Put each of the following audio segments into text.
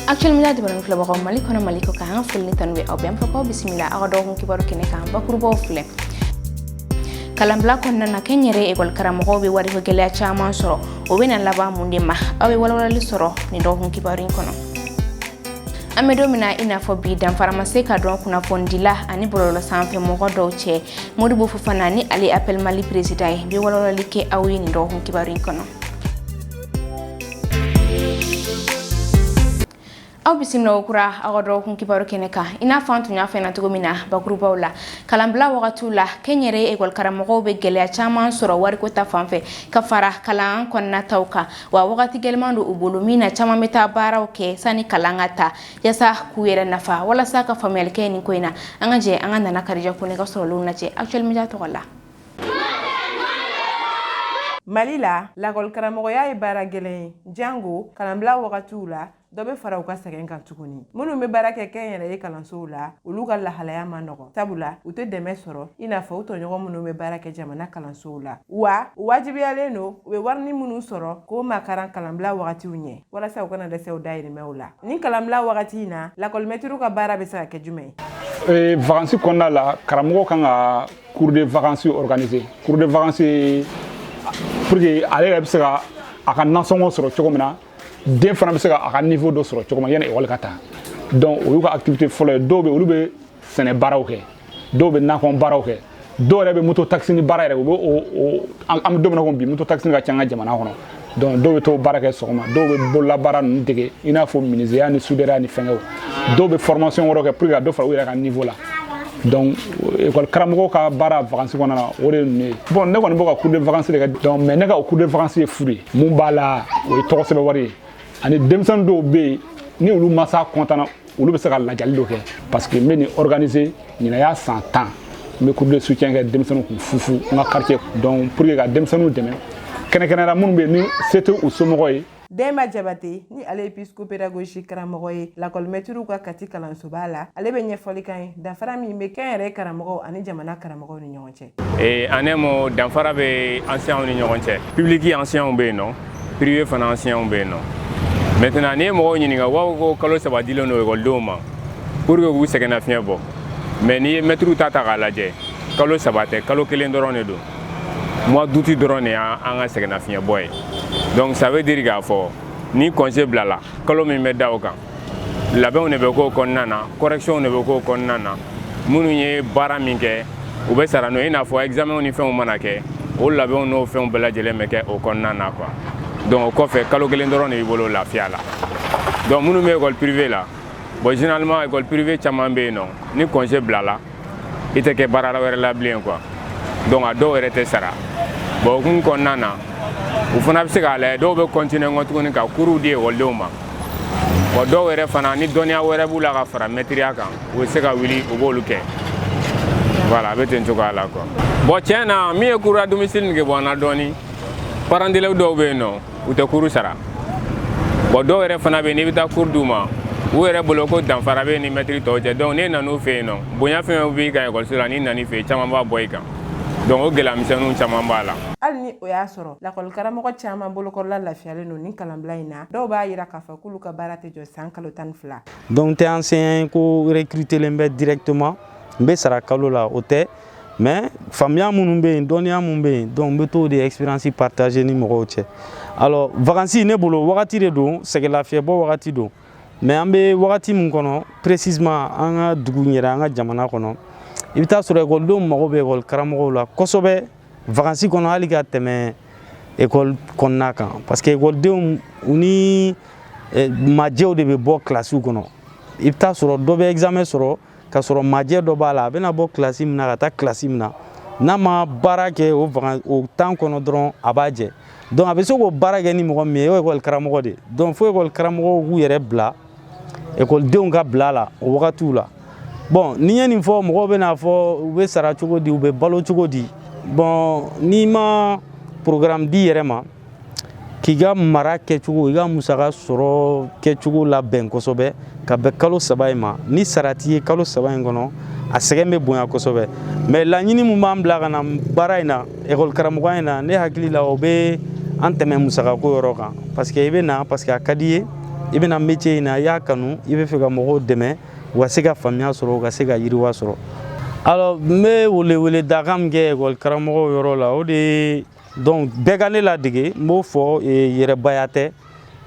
actuel media jabaran filɛbagaw mali kɔnɔ mali kɔ kan foli ni tanu bɛ aw bɛɛ an b'a fɔ k'aw bisimila aw ka dɔgɔkun kibaru kɛnɛ kan bakurubaw filɛ kalanbila kɔnɔna na kɛnyɛrɛye ekɔli karamɔgɔw bɛ wariko gɛlɛya caman sɔrɔ o bɛna laban mun de ma aw bɛ walawalali sɔrɔ nin dɔgɔkun kibaru in kɔnɔ an bɛ don min na i n'a fɔ bi danfara ma se ka don kunnafonidila ani bɔlɔlɔ sanfɛ mɔgɔ dɔw cɛ modibo fofana ni ale appel mali peresidan ye bɛ walawalali kɛ aw ye nin dɔgɔkun kibaru in kɔnɔ aw bisimila kokura aw ka dɔgɔkun kibaru kɛnɛ kan i n'a fɔ an tun y'a fɔ na cogo min na bakurubaw la kalanbila wagatiw la kɛnyɛrɛye ekɔlikaramɔgɔw bɛ gɛlɛya caman sɔrɔ wariko ta fan fɛ ka fara kalan kɔnɔna taw kan wa wagati gɛlɛman don u bolo min na caman bɛ taa baaraw kɛ sanni kalan ka ta yasa k'u yɛrɛ nafa walasa ka faamuyali kɛ nin ko in na an ka jɛ an ka nana karija kɔnɛ ka sɔrɔlenw lajɛ actuel media tɔgɔ la Mali la lakɔlikaramɔgɔya ye baara gɛlɛn ye jango kalanbila wagatiw la dɔ bɛ fara u ka sɛgɛn kan tuguni minnu bɛ baara kɛ kɛnyɛrɛye kalansow la olu ka lahalaya ma nɔgɔ sabula u tɛ dɛmɛ sɔrɔ i n'a fɔ u tɔɲɔgɔn minnu bɛ baara kɛ jamana kalansow la wa u wajibiyalen don u bɛ warini minnu sɔrɔ k'o makaran kalanbila wagatiw ɲɛ walasa u kana dɛsɛ u dayirimɛw la nin kalanbila wagati in na lakɔlimɛtiriw ka baara bɛ se ka kɛ jumɛn ye vakansi kɔnɔna la karamɔgɔ kan ka cours de vacances organiser cours de vacances pour que ale yɛrɛ bɛ se ka a ka nasɔngɔ sɔrɔ cogo min na den fana bɛ se ka a ka niveau dɔ sɔrɔ cogo min na yanni ekɔli ka ta donc o y'u ka activité fɔlɔ ye dɔw bɛ olu bɛ sɛnɛ baaraw kɛ dɔw bɛ nakɔ baaraw kɛ dɔw yɛrɛ bɛ moto taxi ni baara yɛrɛ u bɛ o an bɛ don min na ko bi moto taxi ka ca an ka jamana kɔnɔ donc dɔw bɛ t'o baara kɛ sɔgɔma dɔw bɛ bololabaara ninnu dege i n'a fɔ minizeya ni sudɛrɛya ni fɛnkɛw dɔw bɛ formation wɛrɛ kɛ pour que ka dɔ fara u yɛrɛ ka niveau la donc école karamɔgɔ ka baara vacances kɔnɔna na o de ye ninnu ye bon ne kɔni bɛ ka cours de vacances de kɛ donc mais ne ka o cours de vacances ye fu de ye mun b'a la o ye tɔgɔ sɛbɛn wari ye ani denmisɛnnin dɔw bɛ yen ni olu mansa kɔntanna olu bɛ se ka ladiyali dɔ kɛ parce que n bɛ nin organiser ɲinan y'a san tan n bɛ cours de soutien kɛ denmisɛnninw kun fu fu n ka quartier donc pour que ka denmisɛnninw dɛmɛ kɛnɛkɛnɛra minnu bɛ ni se tɛ u somɔgɔ ye Denba Jabate ni ale ye psychopédagogie karamɔgɔ ye lakɔlimɛtiriw ka Kati kalansoba la ale bɛ ɲɛfɔli k'an ye danfara min bɛ kɛnyɛrɛye karamɔgɔw ani jamana karamɔgɔw ni ɲɔgɔn cɛ an ne mo danfara bɛ enseignantw ni ɲɔgɔn cɛ public enseignantw bɛ yen nɔ privé fana enseignantw bɛ yen nɔ maintenant n'i ye mɔgɔw ɲininka wa u ko kalo saba dilen don ekɔlidenw ma pour que k'u sɛgɛnnafiɲɛ bɔ mais n'i ye mɛtiriw ta ta k'a lajɛ kalo saba tɛ kalo kelen dɔrɔn de don mois d'août dɔrɔn de y'an ka sɛgɛnnafiɲɛbɔ ye donc ça veut dire k'a fɔ ni congé bilala kalo min bɛ da o kan labɛnw de bɛ k'o kɔnɔna na correctionw de bɛ k'o kɔnɔna na minnu ye baara min kɛ u bɛ sara n'o ye i n'a fɔ examenw ni fɛnw mana kɛ o labɛnw n'o fɛnw bɛɛ lajɛlen bɛ kɛ o kɔnɔna na quoi donc o kɔfɛ kalo kelen dɔrɔn de b'i bolo lafiya la donc minnu bɛ école privée la bon généralement école privée caman bɛ yen nɔ ni congé bilala i tɛ kɛ baarada wɛrɛ la bilen quoi donc a dɔw yɛrɛ tɛ sara bon o hukumu kɔnɔna na u fana bɛ se k'a lajɛ dɔw bɛ continuer kɔ tuguni ka kuruw di ekɔlidenw ma bon dɔw yɛrɛ fana ni dɔnniya wɛrɛ b'u la ka fara mɛtiriya kan u bɛ se ka wuli u b'olu kɛ voilà a bɛ ten cogoya la quoi bon tiɲɛ na min ye cours à domicile nege bɔ an na dɔɔni parent d'élève dɔw bɛ yen nɔ u tɛ kuru sara bɔn dɔw yɛrɛ fana bɛ n'i bɛ taa kuru d'u ma u yɛrɛ bolo ko danfara b'i ni mɛtiri tɔw cɛ dɔnku n'e nan'u fɛ yen nɔ bonya fɛn o b'i kan ekɔliso la n'i nan'i fɛ yen caman b'a bɔ i kan dɔnku o gɛlɛya misɛnninw caman b'a la hali ni o y'a sɔrɔ lakɔlikaramɔgɔ caman bolokɔrɔla lafiyalen don nin kalanbila in na dɔw b'a yira k'a fɔ k'olu ka baara tɛ jɔ san kalo tan ni fila dɔnku n tɛ enseignant ye ko rekritelen bɛ directement n bɛ sara kalo la o tɛ mais faamuya minnu bɛ yen dɔnniya minnu bɛ yen donc n bɛ t'o de expérience partager ni mɔgɔw cɛ alors vacances ne bolo wagati de don sɛgɛnlafiɲɛbɔ wagati don mais an bɛ wagati min kɔnɔ précisément an ka dugu in yɛrɛ an ka jamana kɔnɔ i bɛ t'a sɔrɔ ekɔlidenw mago bɛ ekɔli karamɔgɔw la kosɛbɛ vacances kɔnɔ hali ka tɛmɛ ekɔli kɔnɔna kan parce que ekɔlidenw u ni eh, majɛw de bɛ bɔ kilasiw kɔnɔ i bɛ t'a sɔrɔ dɔ bɛ examen sɔrɔ ka sɔrɔ majɛ dɔ b'a la a bɛna bɔ kilasi min na ka taa kilasi min na n'a ma baara kɛ o vakan o temps kɔnɔ dɔrɔn a b'a jɛ donc a bɛ se k'o baara kɛ ni mɔgɔ min ye o ye ekɔli karamɔgɔ de ye donc fo ekɔli karamɔgɔw k'u yɛrɛ bila ekɔlidenw ka bila la o wagatiw la bɔn ni n ye nin fɔ mɔgɔw bɛn'a fɔ u bɛ sara cogo di u bɛ balo cogo di bɔn n'i ma programme d'i yɛrɛ ma k'i ka mara kɛcogo i ka musaka sɔrɔ kɛcogo labɛn kosɛbɛ ka bɛn kalo saba in ma ni sara t'i ye kalo saba in kɔnɔ a sɛgɛn bɛ bonya kosɛbɛ mais laɲini min b'an bila ka na baara in na ekɔlikaramɔgɔ in na ne hakili la o bɛ an tɛmɛ musakako yɔrɔ kan parce que i bɛ na parce que a ka d'i ye i bɛ na métier in na i y'a kanu i b'a fɛ ka mɔgɔw dɛmɛ u ka se ka faamuya sɔrɔ u ka se ka yiriwa sɔrɔ alors n bɛ weleweledakan min kɛ ekɔlikaramɔgɔw yɔrɔ la o de ye donc bɛɛ ka ne ladege n b'o fɔ yɛrɛbaya tɛ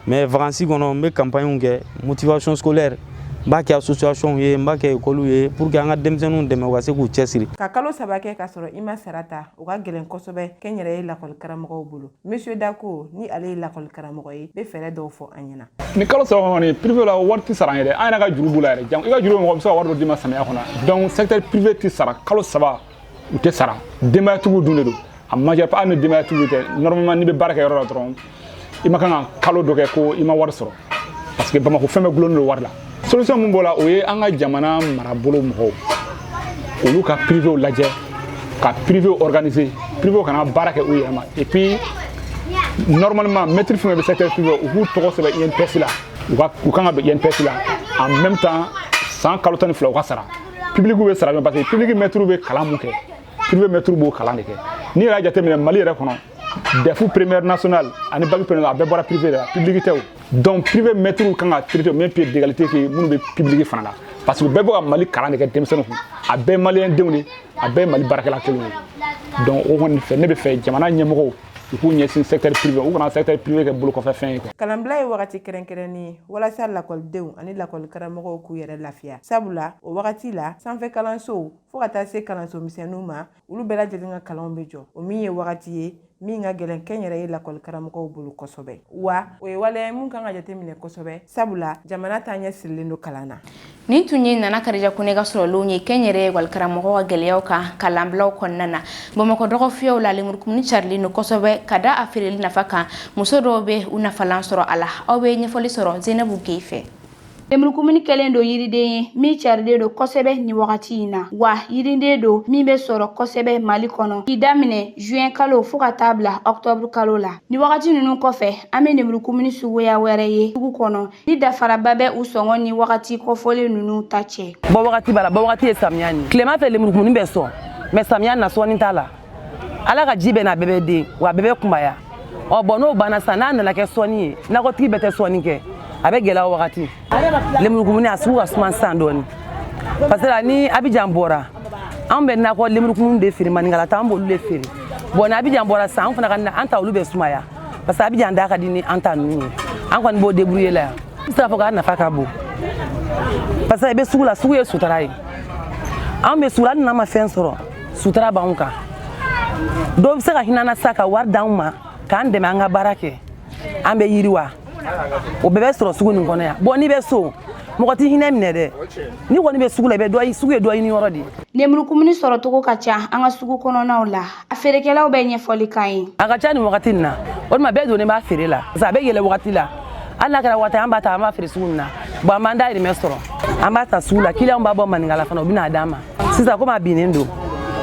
mais vacansi kɔnɔ n bɛ campagne kɛ motivation scolaire n b'a kɛ associationw ye n b'a kɛ ekɔliw ye pour que an ka denmisɛnninw dɛmɛ u ka se k'u cɛsiri ka kalo saba kɛ k'a sɔrɔ i ma sara ta o ka gɛlɛn kosɛbɛ kɛnyɛrɛye lakɔli karamɔgɔw bolo monsieur dako ni ale ye lakɔli karamɔgɔ ye bɛ fɛɛrɛ dɔw fɔ an ɲɛna ni kalo saba kɔni privé la wari tɛ sara an yɛrɛ an yɛrɛ ka juru b'u la yɛrɛ jan i ka juru mɔgɔ bɛ se ka wari dɔ d'i ma samiya kɔnɔ donc secteur privé tɛ sara kalo saba u tɛ sara denbayatigiw dun de don a majeure part hali ni denbayatigiw tɛ normalement n'i bɛ baara kɛ yɔrɔ la dɔrɔn i ma kan ka kalo dɔ kɛ ko i ma wari sɔrɔ parce que bamakɔ fɛn bɛɛ gulonnen don wari la solution min b'o la o ye an ka jamana marabolo mɔgɔw olu ka privew lajɛ ka privew organiser privew kana baara kɛ u yɛrɛ ma et puis normalement maître fɛn bɛ secteur privé u k'u tɔgɔ sɛbɛn INPS la u ka u kan ka don INPS la en même temps san kalo tan ni fila u ka sara public bɛ sara parce que public maîtrew bɛ kalan min kɛ privé maîtrew b'o kalan de kɛ n'i yɛrɛ y'a jateminɛ mali yɛrɛ kɔnɔ DEF première nationale ani bac première a bɛɛ bɔra privé de la public tɛ o donc privé maîtrew kan ka traiter même pied d'égalité que minnu bɛ public fana la parce que bɛɛ bɛ ka mali kalan de kɛ denmisɛnninw kun a bɛɛ maliyɛn denw de a bɛɛ mali baarakɛla kelenw ye donc o kɔni fɛ ne bɛ fɛ jamana ɲɛmɔgɔw u k'u ɲɛsin secteur privé u kana secteur privé kɛ bolo kɔfɛ fɛn ye quoi. Kalanbila ye wagati kɛrɛnkɛrɛnnen ye walasa lakɔlidenw ani lakɔli karamɔgɔw k'u yɛrɛ lafiya sabula o wagati la sanfɛ kalansow fo ka taa se kalanso misɛnninw ma olu bɛɛ lajɛlen ka kalanw bɛ jɔ o min ye wagati ye min ka gɛlɛn kɛnyɛrɛye lakɔli karamɔgɔw bolo kosɛbɛ wa o ye waleya ye min kan ka jateminɛ kosɛbɛ sabula jamana taaɲɛ sirilen don kalan na nin tun ye nana karija kone ka sɔrɔlenw ye kɛnyɛrɛye lakɔli karamɔgɔw ka gɛlɛyaw kan kalanbilaw kɔnɔna na bamakɔ dɔgɔfiyɛw la lemurukumuni carilen don kosɛbɛ ka da a feereli nafa kan muso dɔw bɛ u nafalan sɔrɔ a la aw bɛ ɲɛfɔli sɔrɔ zenabu gueye fɛ lemurukumuni kɛlen don yiriden ye min carilen don kosɛbɛ nin wagati in na wa yiriden don min bɛ sɔrɔ kosɛbɛ mali kɔnɔ k'i daminɛ juin kalo fo ka taa bila ɔktɔburu kalo la ni wagati ninnu kɔfɛ an bɛ lemurukumuni suguya wɛrɛ ye sugu kɔnɔ ni danfaraba bɛ u sɔngɔ ni wagati kɔfɔlen ninnu ta cɛ bɔ wagati b'a la bɔ wagati ye samiya ni tilema fɛ lemurukumuni bɛ sɔn mais samiya na sɔnni t'a la ala ka ji bɛ na a bɛɛ bɛ den wa a bɛɛ bɛ kunbaya ɔ bɔn n'o banna sisan n'a nana kɛ sɔnni ye nakɔtigi bɛɛ tɛ sɔnni kɛ a bɛ gɛlɛya o wagati lemurukumuni a sugu ka suma sisan dɔɔni parce que ni abijan bɔra anw bɛ nakɔ lemurukumuni de feere maninkala ta an b'olu de feere bɔn ni abijan bɔra sisan an fana ka an ta olu bɛ sumaya parce que abijan da ka di ni an ta ninnu ye an kɔni b'o débrouiller la yan n bɛ se k'a fɔ k'a nafa ka bon parce que i bɛ sugu la sugu ye sutura ye anw bɛ sugu la hali n'an ma fɛn sɔrɔ sutura b'anw kan dɔw bɛ se ka hinɛ an na sa ka wari d'anw ma k'an dɛmɛ an ka baara kɛ an bɛ yiriwa o bɛɛ bɛ sɔrɔ sugu nin kɔnɔ yan bɔn n'i bɛ so mɔgɔ t'i hinɛ minɛ dɛ n'i kɔni bɛ sugu la i bɛ dɔ sugu ye dɔ ɲini yɔrɔ de ye lemurukumuni sɔrɔcogo ka ca an ka sugu kɔnɔnaw la a feerekɛlaw bɛ ɲɛfɔli k'an ye a ka ca nin wagati nin na o tuma bɛɛ donnen b'a feere la parce que a bɛ yɛlɛ wagati la hali n'a kɛra wagati an b'a ta an b'a feere sugu nin na bɔn an b'an dayirimɛ sɔrɔ an b'a ta sugu la kiliyanw b'a bɔ maninkala fana u bɛ na a d'an ma sisan komi a binnen don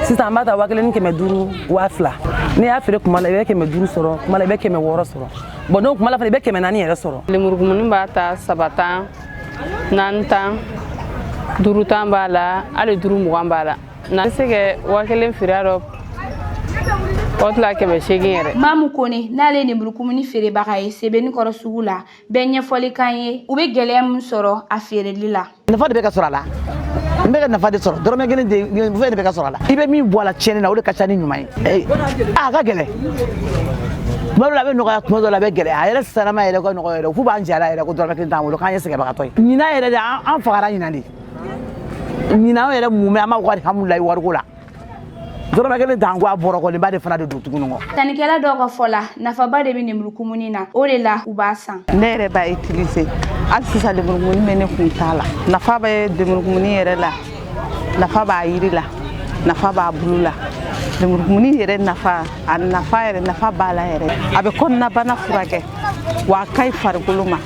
sisan an b'a ta waa kelen ni kɛmɛ duuru waa fila n'i y'a feere kuma la i bɛ kɛmɛ duuru sɔrɔ kuma la i bɛ kɛmɛ wɔɔrɔ sɔrɔ bɔn n'o kuma la fana i bɛ kɛmɛ naani yɛrɛ sɔrɔ lemurukumuni b'a ta saba tan naani tan duuru tan b'a la hali duuru mugan b'a la na se kɛ waa kelen feere dɔ o tila kɛmɛ seegin yɛrɛ mamu kone n'ale ye lemurukumuni feerebaga ye sebenikɔrɔ sugu la bɛ ɲɛfɔli k'an ye u bɛ gɛlɛya min sɔrɔ a feereli la nafa de bɛ ka sɔrɔ a la n bɛ ka nafa de sɔrɔ dɔrɔmɛ kelen de fɛn de bɛ ka sɔrɔ a la i bɛ min bɔ a la tiɲɛni na o de ka ca ni ɲuman ye a ka gɛlɛn tuma dɔ la a bɛ nɔgɔya tuma dɔ la a bɛ gɛlɛya a yɛrɛ sanama yɛrɛ ka nɔgɔya yɛrɛ k'u b'an jara yɛrɛ ko dɔrɔmɛ kelen t'an bolo k'an ye sɛgɛnbagatɔ ye ɲinan yɛrɛ de an fagara ɲinan de ɲinan yɛrɛ mun bɛ an b'a fɔ ko alihamudulilayi wariko la dɔrɔmɛ kelen t'an kun a bɔrɔ kolonba de fana de don tuguni kɔ sannikɛla dɔw ka fɔ la nafaba de bɛ lemurukumuni na o de la u b'a san ne yɛrɛ b'a utiliser hali sisan lemurukumuni bɛ ne kun t'a la nafa bɛ lemurukumuni yɛrɛ la nafa b'a yiri la nafa b'a bulu la lemurukumuni yɛrɛ nafa a nafa yɛrɛ nafa b'a la yɛrɛ a bɛ kɔnɔnabana furakɛ wa a ka ɲi farikolo ma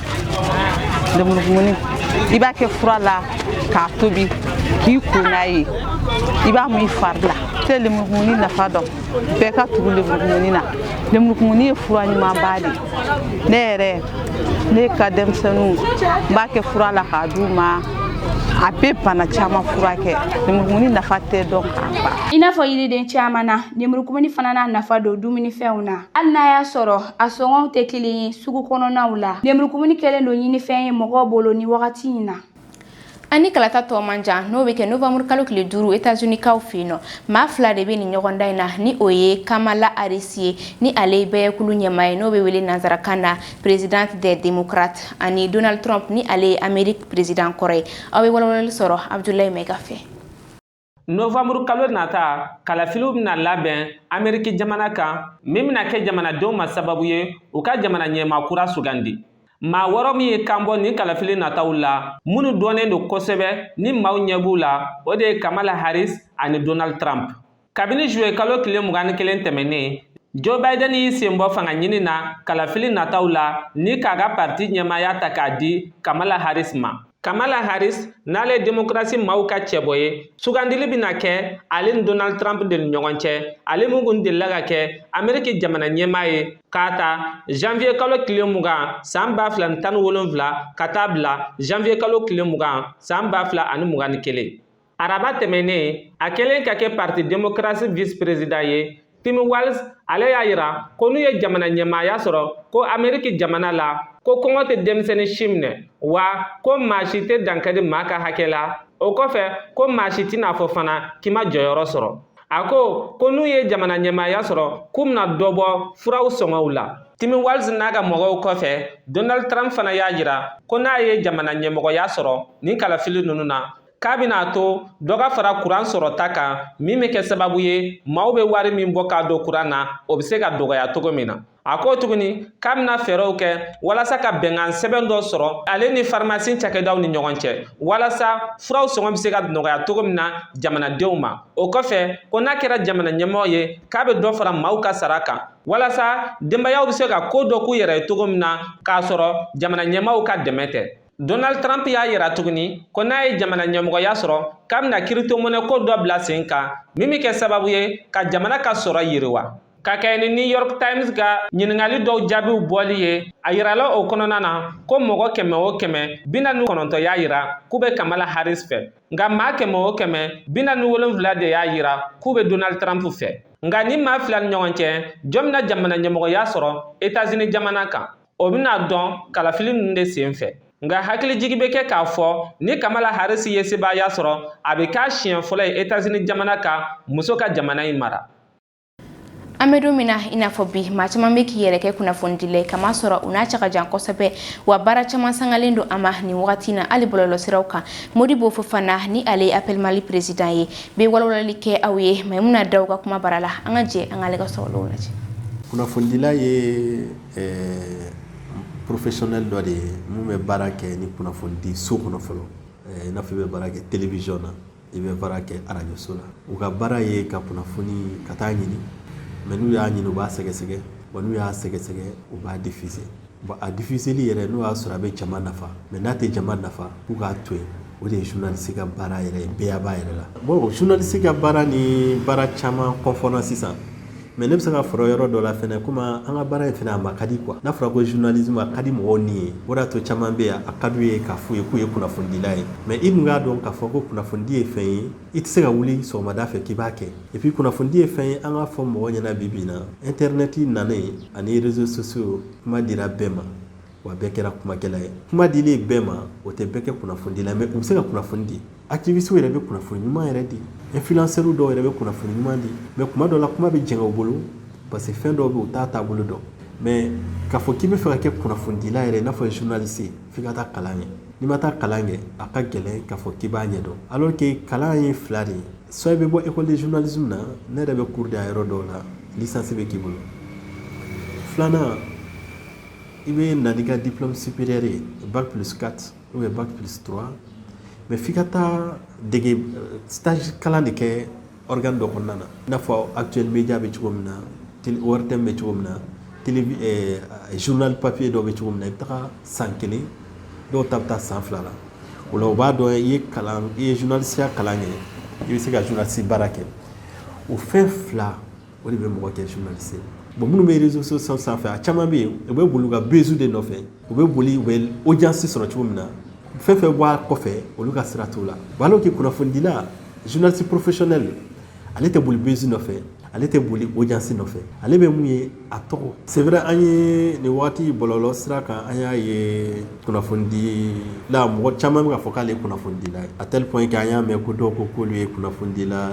lemurukumuni i b'a kɛ fura la k'a tobi k'i ko n'a ye i b'a mun i fari la tɛ lemurukumuni nafa dɔn bɛɛ ka tugu lemurukumuni na lemurukumuni ye fura ɲumanba de ne yɛrɛ ne ka denmisɛnninw n b'a kɛ fura la k'a d'u ma a bɛ bana caman furakɛ lemurukumuni nafa tɛ dɔn k'a ban i n'a fɔ yiriden caman na lemurukumuni fana n'a nafa don dumunifɛnw na hali n'a y'a sɔrɔ A sɔngɔw tɛ kelen ye sugu kɔnɔnaw la. Lenburukumuni kɛlen don ɲinifɛn ye mɔgɔw bolo ni wagati in na. Ani kalata tɔ man jan n'o bɛ kɛ novembre kalo tile duuru États-Unis kaw fɛ yen nɔ maa fila de bɛ nin ɲɔgɔndan in na ni o ye Kamala Harris ye ni ale ye bɛɛjɛkulu ɲɛmaa ye n'o bɛ wele nanzarakan na présidente des démocrates ani Donald Trump ni ale ye Amérique président kɔrɔ ye aw bɛ walawalali sɔrɔ Abdoulaye Maiga fɛ. novanburu kalo nata kalafiliw bɛna labɛn ameriki jamana kan min bɛna kɛ jamanadenw ma sababu ye u ka jamana ɲɛmaa kura sugandi maa wɔɔrɔ min y'i kan bɔ nin kalafili nataw la minnu dɔnnen don kosɛbɛ ni maaw ɲɛ b'u la o de ye kamala harris ani donald trump kabini juillet kalo tile mugan ni kelen tɛmɛnnen joe biden y'i sen bɔ fanga ɲini na kalafili nataw la ni k'a ka parti ɲɛmaaya ta k'a di kamala harris ma Kamala Harris n'ale ye demokrasi maaw ka cɛbɔ ye sugandili bɛna kɛ ale ni Donald Trump de ni ɲɔgɔn cɛ ale min kun delila ka kɛ Ameriki jamana ɲɛmaa ye k'a ta janvier kalo tile mugan san ba fila ni tan ni wolonfila ka taa bila janvier kalo tile mugan san ba fila ani mugan ni kelen Araba tɛmɛnnen a kɛlen ka kɛ parti démocratie vice président ye Tim Walz ale y'a yira ko n'u ye jamana ɲɛmaaya sɔrɔ ko Ameriki jamana la ko kɔngɔ tɛ denmisɛnnin si minɛ wa ko maa si tɛ dankari maa ka hakɛ la o kɔfɛ ko maa si tɛn'a fɔ fana k'i ma jɔyɔrɔ sɔrɔ a ko ko n'u ye jamana ɲɛmaaya sɔrɔ k'u bɛna dɔ bɔ furaw sɔngɔw la Tim Walz n'a ka mɔgɔw kɔfɛ Donald Trump fana y'a yira ko n'a ye jamana ɲɛmɔgɔya sɔrɔ nin kalafili ninnu na k'a bɛna to dɔ ka fara kuran sɔrɔta kan min bɛ kɛ sababu ye maaw bɛ wari min bɔ k'a don kuran na o bɛ se ka dɔgɔya cogo min na a ko tuguni k'a bɛna fɛɛrɛw kɛ walasa ka bɛnkan sɛbɛn dɔ sɔrɔ ale ni farimasi cakɛdaw ni ɲɔgɔn cɛ walasa furaw sɔngɔ bɛ se ka nɔgɔya cogo min na jamanadenw ma o kɔfɛ ko n'a kɛra jamana ɲɛmɔgɔ ye k'a bɛ dɔ fara maaw ka sara kan walasa denbayaw bɛ se ka ko dɔ k'u yɛrɛ ye cogo min na k'a sɔrɔ jamana ɲɛmaaw ka dɛmɛ tɛ Donald Trump y'a yira tuguni ko n'a ye jamana ɲɛmɔgɔya sɔrɔ k'a bɛna kiritomonɛko dɔ bila sen kan min bɛ kɛ sababu ye ka jamana ka sɔrɔ yiriwa ka kɛɲɛ ni new york times ka ɲininkali dɔw jaabiw bɔli ye a yirala o kɔnɔna na ko mɔgɔ kɛmɛ o kɛmɛ bi naani kɔnɔntɔ y'a yira k'u bɛ kamala harris fɛ nka maa kɛmɛ o kɛmɛ bi naani wolonfila de y'a yira k'u bɛ donald trump fɛ nka nin maa fila ni ɲɔgɔn cɛ jɔn bɛna jamana ɲɛmɔgɔya sɔrɔ etazini jamana kan o bɛna dɔn kalafili ninnu de sen fɛ nka hakilijigi bɛ kɛ k'a fɔ ni kamala harris ye sebaaya sɔrɔ a bɛ k'a siɲɛ fɔlɔ ye etazini jamana kan muso ka jamana in mara an bɛ don min na i n'a fɔ bi maa caman bɛ k'i yɛrɛ kɛ kunnafonidila ye k'a masɔrɔ u n'a cɛ ka jan kosɛbɛ wa baara caman sangalen don a ma nin wagati na hali bɔlɔlɔsiraw kan modibo fofana ni ale ye appel mali peresidan ye bɛ walawalali kɛ aw ye maimuna daw ka kumabara la an ka jɛ an k'ale ka sɔrɔlenw lajɛ kunnafonidila ye Ɛɛ professionnel dɔ de ye min bɛ baara kɛ ni kunnafonidi so kɔnɔ fɔlɔ i n'a fɔ i bɛ baara kɛ télévision na i bɛ baara kɛ arajoso la u ka baara ye ka kunnafoni ka taa ɲini mɛ n'u y'a ɲini u b'a sɛgɛsɛgɛ wa n'u y'a sɛgɛsɛgɛ u b'a difise bon a difiseli yɛrɛ n'o y'a sɔrɔ a bɛ jama nafa mɛ n'a tɛ jama nafa k'u k'a to yen o de ye journaliste ka baara yɛrɛ ye bɛɛ b'a yɛrɛ la bon journaliste ka baara ni baara caman confond sisan mɛ ne bɛ se k'a fɔ yɔrɔ dɔ la fɛnɛ komi an ka baara in fɛnɛ a ma ka di kuwa n'a fɔra ko journalisme a ka di mɔgɔw ni ye o y'a to caman bɛ yan a ka d'u ye k'a f'u ye k'u ye kunnafonidila ye mɛ i dun k'a dɔn k'a fɔ ko kunnafonidi ye fɛn ye i tɛ se ka wuli sɔgɔmada fɛ k'i b'a kɛ et puis kunnafonidi ye fɛn ye an k'a fɔ mɔgɔ ɲɛna bi bi in na internet nanen ani réseaux sociaux kuma dira bɛɛ ma wa bɛɛ kɛra kumakɛla ye kuma dilen bɛɛ ma o tɛ bɛɛ kɛ kunnafonidila mɛ u bɛ se ka kunnafoni di activistes yɛrɛ bɛ kunnafoni ɲuman yɛrɛ di influenceurs dɔw yɛrɛ bɛ kunnafoni ɲuman di mɛ kuma dɔw la kuma bɛ jɛngɛ u bolo parce que fɛn dɔw bɛ u t'a taabolo dɔn mɛ k'a fɔ k'i bɛ fɛ ka kɛ kunnafonidila yɛrɛ i n'a fɔ journaliste f'i ka taa kalan kɛ n'i ma taa kalan kɛ a ka gɛlɛn k'a fɔ k'i b'a ɲɛdɔn alors que kalan ye fila de ye soit i bɛ bɔ école de journalisme na ne yɛrɛ bɛ cours di a yɔrɔ dɔw la licence bɛ k'i bolo filanan i bɛ na n'i ka diplôme supérieur ye bac plus 4 ou bien bac plus 3 mais f'i ka taa dege stage kalan de kɛ organe dɔ kɔnɔna na i n'a fɔ actuel média bɛ cogo min na télé ORTM bɛ cogo min na télé ɛ journal papier dɔ bɛ cogo min na i bɛ taga san kelen dɔw ta bɛ taa san fila la o la u b'a dɔn i ye kalan i ye journalisiya kalan kɛ i bɛ se ka journaliste baara kɛ o fɛn fila o de bɛ mɔgɔ kɛ journaliste ye bon minnu bɛ réseaux sociaux sanfɛ a caman bɛ yen u bɛ boli u ka buzz de nɔfɛ u bɛ boli u bɛ audience sɔrɔ cogo min na fɛn fɛn bɔ a kɔfɛ olu ka sira t'o la bon alors que kunnafonidila journaliste professionnel ale tɛ boli buzz nɔfɛ ale tɛ boli audience nɔfɛ ale bɛ mun ye a tɔgɔ c'est vrai an ye nin waati bɔlɔlɔ sira kan an y'a ye kunnafonidila mɔgɔ caman bɛ k'a fɔ k'ale ye kunnafonidila ye à tel point que an y'a mɛn ko dɔw ko k'olu ye kunnafonidila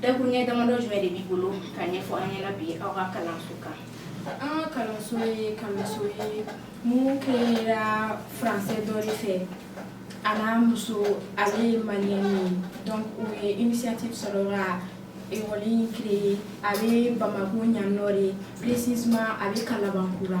Dakuruɲɛ damadɔ jumɛn de b'i bolo ka ɲɛfɔ an ɲɛna bi aw ka kalanso kan? An ka kalanso ye kalanso ye mun créera français dɔ de fɛ a n'a muso ale ye maliyɛn ye donc u ye initiative sɔrɔ ka école in créer a bɛ Bamako yan nɔ de précisément a bɛ Kalabankura.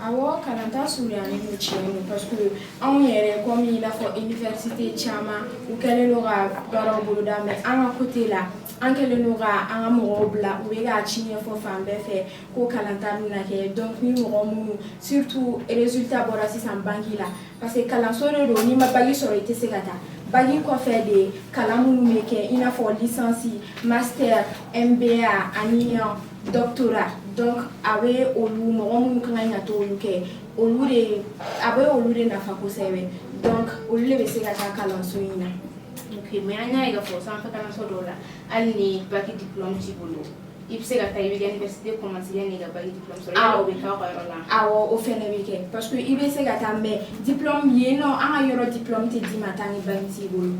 Awɔ kalanta surunyanen don tiɲɛ don parce que anw yɛrɛ comme i n'a fɔ université caman u kɛlen don ka baaraw boloda mais an ka côté la an kɛlen don ka an ka mɔgɔw bila u bɛ k'a ci ɲɛfɔ fan bɛɛ fɛ ko kalanta bɛna kɛ donc ni mɔgɔ minnu surtout résultat bɔra sisan bac la parce que kalanso de don n'i ma bac sɔrɔ i tɛ se ka taa bac kɔfɛ de kalan minnu bɛ kɛ i n'a fɔ licence master MBA ani doctorat donc a bɛ olu mɔgɔ minnu ka kan ka taa olu kɛ olu de a bɛ olu de nafa kosɛbɛ donc olu de bɛ se ka taa kalanso in na ok mais an y'a ye k'a fɔ sanfɛ kalanso dɔw la hali ni baki diplôme t'i bolo i bɛ se ka taa i bɛ université commencer yann'i ka baki diplôme sɔrɔ yala o bɛ k'aw ka yɔrɔ la awɔ o fɛnɛ bɛ kɛ parce que i bɛ se ka taa mais diplôme yen nɔ an ka yɔrɔ diplôme tɛ d'i ma tant que baki t'i bolo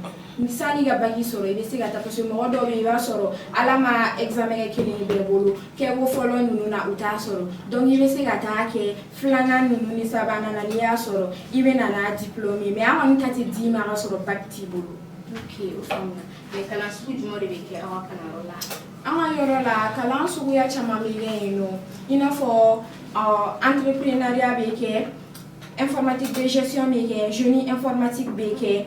San'i ka bac sɔrɔ i bɛ se ka taa parce que mɔgɔ dɔw bɛ yen i b'a sɔrɔ Ala ma examen kɛ kelen ye bɛɛ bolo kɛko fɔlɔ ninnu na u t'a sɔrɔ donc i bɛ se ka taa kɛ filanan ninnu ni sabanan na n'i y'a sɔrɔ i bɛ na n'a diplôme ye mais an kɔni ta tɛ d'i ma k'a sɔrɔ bac t'i bolo. Ok o faamuna mais kalan sugu jumɛnw de bɛ kɛ aw ka kalanyɔrɔ la? An ka yɔrɔ la kalan suguya caman bɛ kɛ yen nɔ i n'a fɔ entrepreneuriat bɛ kɛ informatique de gestion bɛ kɛ génie informatique bɛ kɛ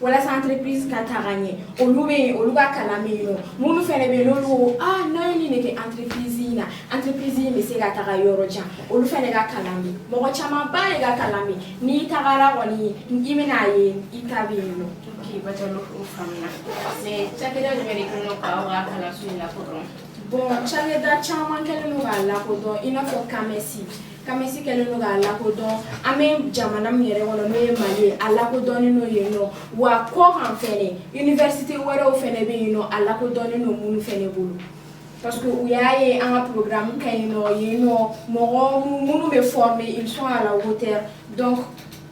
walasa entreprise ka taga ɲɛ olu bɛ yen olu ka kalan bɛ yen nɔ minnu fɛnɛ bɛ yen n'olu ko ah n'an ye nin de kɛ entreprise in na entreprise in bɛ se ka taga yɔrɔ jan olu fɛnɛ ka kalan bɛ yen mɔgɔ camanba de ka kalan bɛ yen n'i tagara kɔni i bɛna a ye i ta bɛ yen nɔ. ok batalo o faamuya mais cakɛda jumɛn de kɛlen don k'aw ka kalanso in lakodɔn. bon cakɛda caman kɛlen don k'a lakodɔn i n'a fɔ CAMES. CAMES kɛlen don k'a lakodɔn an bɛ jamana min yɛrɛ kɔnɔ n'o ye mali ye a lakodɔnnen don yen nɔ wa kɔ kan fɛnɛ université wɛrɛw fɛnɛ bɛ yen nɔ a lakodɔnnen don minnu fɛnɛ bolo parce que u y'a ye an ka programme ka ɲi nɔ yen nɔ mɔgɔ minnu bɛ former ils sont à la hauteur donc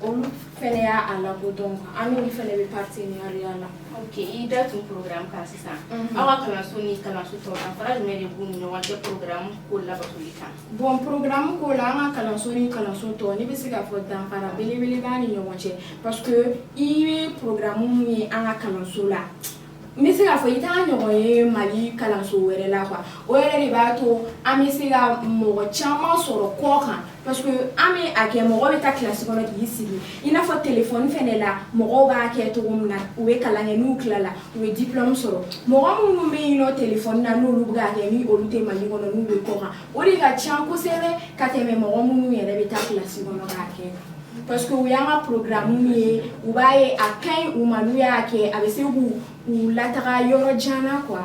olu fɛnɛ y'a a lakodɔn an n'olu fɛnɛ bɛ partenariat la ok i da tun programme kan sisan aw ka kalanso ni kalanso tɔw danfara jumɛn de b'u ni ɲɔgɔn cɛ programme ko labatoli kan Bon programme ko la an ka kalanso ni kalanso tɔw ne bɛ se k'a fɔ danfara belebele b'a ni ɲɔgɔn cɛ parce que i bɛ programme minnu ye an ka kalanso la n bɛ se k'a fɔ i t'a ɲɔgɔn ye mali kalanso wɛrɛ la quoi o yɛrɛ de b'a to an bɛ se ka mɔgɔ caman sɔrɔ kɔ kan parce que an bɛ a kɛ mɔgɔ bɛ taa kilasi kɔnɔ k'i sigi i n'a fɔ telefɔni fɛnɛ la mɔgɔ b'a kɛ cogo min na u bɛ kalan kɛ n'u tilala u ye diplôme sɔrɔ mɔgɔ minnu bɛ yen nɔ telefɔni na n'olu bɛ k'a kɛ ni olu tɛ mali kɔnɔ n'u bɛ kɔkan o de ka ca kosɛbɛ ka tɛmɛ mɔgɔ minnu yɛrɛ bɛ taa kilasi kɔnɔ k'a kɛ parce que u y'an ka programme ye u b'a ye a ka ɲi u ma n'u y'a kɛ a bɛ se k'u lataga yɔrɔ jan na quoi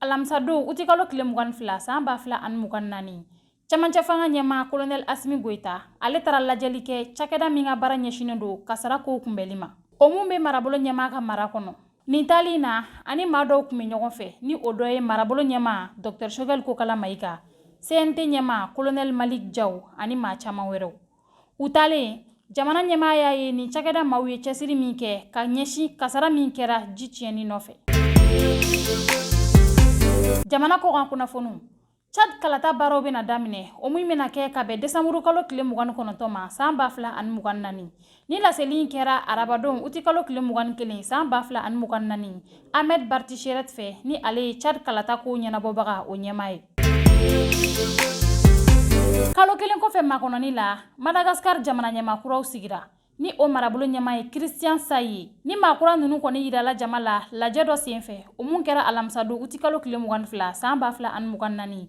alamisadon utikalo tile mugan ni fila san ba fila ani mugan ni naani camancɛ fanga ɲɛmaa kolonɛl asimi goyita ale taara lajɛli kɛ cakɛda min ka baara ɲɛsinen don kasara kow kunbɛli ma o mun bɛ marabolo ɲɛmaa ka mara kɔnɔ nin tali na ani maa dɔw kun bɛ ɲɔgɔn fɛ ni o dɔ ye marabolo ɲɛmaa dɔktɛr shogɛl kokala mayika cnt ɲɛmaa kolonɛl malik jaw ani maa caman wɛrɛw u taalen jamana ɲɛmaa y'a ye nin cakɛda maaw ye cɛsiri min kɛ ka ɲɛsin kasara min kɛra ji tiɲɛni nɔfɛ jamana kɔkan kunnafoniw chad kalata baaraw bɛna daminɛ o min bɛna kɛ ka bɛn desanburu kalo tile mugan ni kɔnɔntɔn ma san ba fila ani mugan naani ni laseli in kɛra arabadon uti kalo tile mugan ni kelen san ba fila ani mugan naani Ahmed Bartchiret fɛ ni ale ye Tchad kalata kow ɲɛnabɔbagaw ɲɛmaa ye. Kalo kelen kɔfɛ makɔnɔni la, Madagascar jamana ɲɛmaa kuraw sigira ni o marabolo ɲɛmaa ye Christian Ntsay ye. Ni maa kura ninnu kɔni yirala jama la lajɛ dɔ senfɛ, o mun kɛra alamisadon utikalo tile mugan ni fila san ba fila ani mugan ni naani,